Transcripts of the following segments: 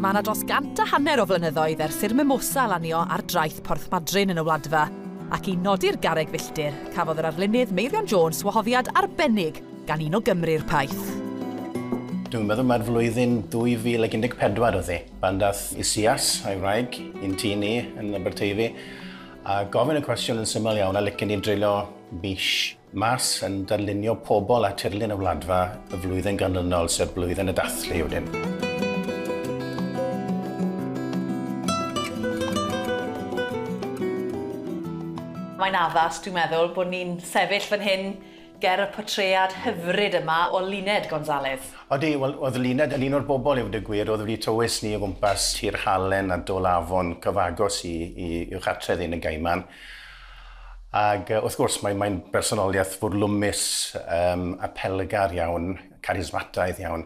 Mae yna dros gant a hanner o flynyddoedd ers i'r mimosa lanio ar draeth Porthmadryn yn y Wladfa, ac i nodi'r garreg filltir, cafodd yr arlunydd Meirion Jones wahoddiad arbennig gan un o Gymry'r Paith. Dwi'n meddwl mai'r flwyddyn 2014 oedd hi, pan dath Isias, a'i wraig, i'n tŷ ni yn Aberteifi, a gofyn y cwestiwn yn syml iawn a licen ni dreulio mis Mas yn darlunio pobl a tirlun y Wladfa y flwyddyn ganlynol, sef Blwyddyn y Dathlu wedyn. Mae'n addas, dwi'n meddwl, bod ni'n sefyll fan hyn ger y portread hyfryd yma o Luned Gonzalez. Odi, wel, oedd Luned yn un o'r bobl i'w dygwyr oedd wedi tywys ni o gwmpas Tir Halen a Dol Afon cyfagos i, i, i'w chartredd yn y Gaiman. Ac wrth gwrs, mae, mae'n bersonoliaeth fwrlwmus, um, apelgar iawn, carismataidd iawn.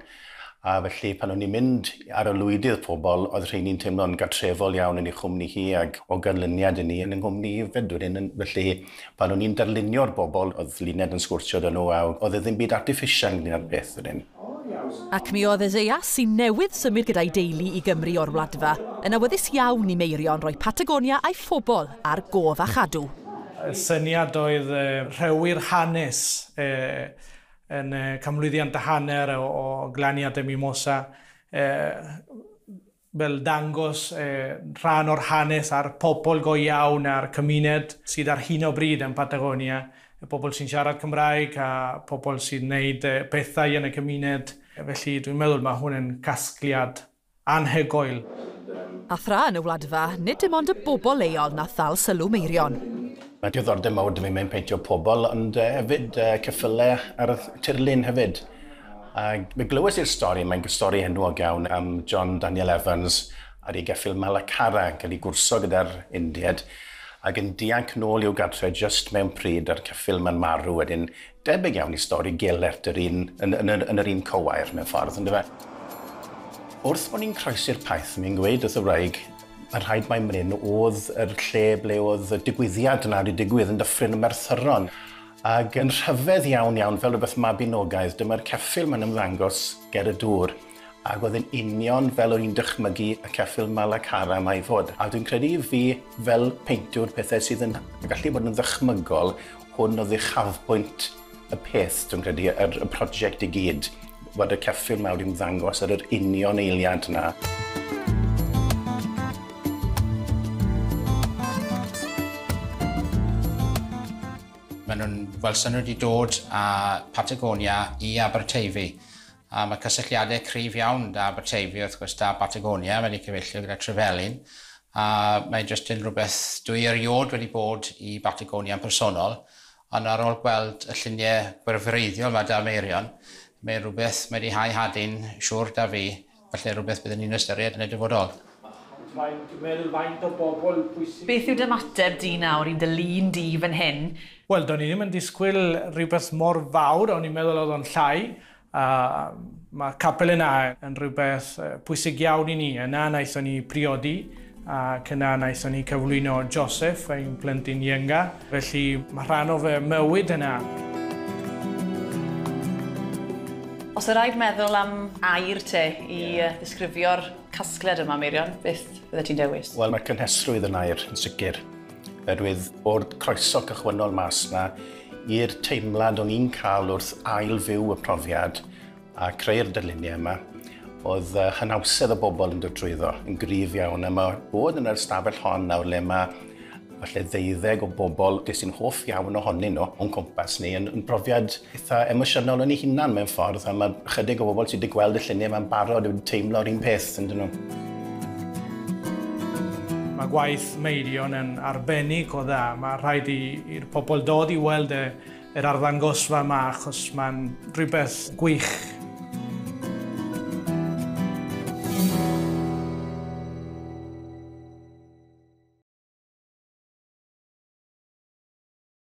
A felly, pan o'n i'n mynd ar y lwydydd pobl, oedd rheini'n teimlo'n gartrefol iawn yn ei chwmni hi ac o ganlyniad i ni yn yng nghwmni hefyd wedyn. Felly, pan o'n i'n darlunio'r bobl, oedd Luned yn sgwrsio dyn nhw a oedd e ddim byd artiffisial yn un o'r peth wedyn. Ac mi oedd Isaiah, sy'n newydd symud gyda'i deulu i Gymru o'r Wladfa, yn awyddus iawn i Meirion roi Patagonia a'i phobl ar gof a chadw. Syniad oedd rhewi'r hanes yn y canmlwyddiant a hanner o glaniad y Mimosa. fel dangos rhan o'r hanes a'r pobl go iawn a'r cymuned sydd ar hyn o bryd yn Patagonia, y pobl sy'n siarad Cymraeg a pobl sy'n wneud pethau yn y cymuned, felly dwi'n meddwl mae hwn yn casgliad anhygoel. A thra yn y Wladfa, nid dim ond y bobl leol nath ddal sylw Meirion. Mae diddordeb mawr 'da fi mewn peintio pobl ond yy hefyd yy ceffylau ar y tirlun hefyd. Ag fe glywes i'r stori, mae'n stori enwog iawn am John Daniel Evans ar ei geffyl Malacara yn cael ei gwrso gyda'r Indied ac yn dianc nôl i'w gartre jyst mewn pryd a'r ceffyl ma'n marw wedyn. Debyg iawn i stori Gelert yr un yn yn yr yn yr un cywair mewn ffordd yndyfe? Wrth bo' ni'n croesi'r Paith, mi'n gweud wrth y wraig, Mae'n rhaid mai Mryn oedd yr lle ble oedd y digwyddiad yna wedi digwydd yn Dyffryn y Merthyron. Ac yn rhyfedd iawn iawn, fel rhywbeth mabinogaidd, dyma'r ceffyl mae'n ymddangos ger y dŵr. Ac oedd yn union fel o'n i'n dychmygu y ceffyl Malacara yma i fod. A dwi'n credu i fi, fel peintiwr, pethau sydd yn gallu bod yn ddychmygol, Hwn oedd uchafbwynt y peth, dwi'n credu, yr, y prosiect i gyd, bod y ceffyl mawr i'n ddangos ar yr union eiliad na. Maen nhw'n welson nhw wedi dod â Patagonia i Aberteifi. A mae cysylltiadau cryf iawn 'da Aberteifi, wrth gwrs, 'da Batagonia, mae 'di cyfeillio gyda Trevelin, a mae jyst yn rhywbeth dwi eriôd wedi bod i Batagonia yn personol, ond ar ôl gweld y lluniau gwerthfawreiddiol 'ma 'da Meirion, mae rhywbeth, mae 'di hau hadyn siwr 'da fi, falle rhywbeth byddwn ni'n ystyried yn y dyfodol. Faint, meddwl faint o bobl pwysig sydd. Beth yw d'ymateb di nawr i dy lun di fan hyn? Wel, do'n i ddim yn disgwyl rhywbeth mor fawr, o'n i'n meddwl oedd o'n llai, A mae capel yna yn rhywbeth pwysig iawn i ni. Yna wnaethon ni priodi ac yna wnaethon ni cyflwyno Joseph, ein plentyn ienga. Felly mae rhan o fy mywyd yna. Os oedd rhaid meddwl am air te i ddisgrifio'r casgliad yma, Meirion, beth fyddet ti'n dewis? Wel, mae cynhesrwydd yn air, yn sicr. Oherwydd o'r croeso cychwynnol mas na i'r teimlad o'n i'n cael wrth ail fyw y profiad a creu'r dyluniau yma, oedd uh, hynawsedd y bobl yn dod drwyddo yn gryf iawn a mae bod yn yr ystafell hon nawr le mae falle ddeuddeg o bobl ges i'n hoff iawn ohonyn nhw o'n cwmpas ni yn, yn brofiad eitha emosiynol yn ei hunan mewn ffordd, a mae chydig o bobl sydd wedi gweld y lluniau mae'n barod yn teimlo'r un peth, yn dyn nhw. Mae gwaith Meirion yn arbennig o dda. Mae rhaid i'r pobl dod i weld e, yr arddangosfa yma achos mae'n rhywbeth gwych.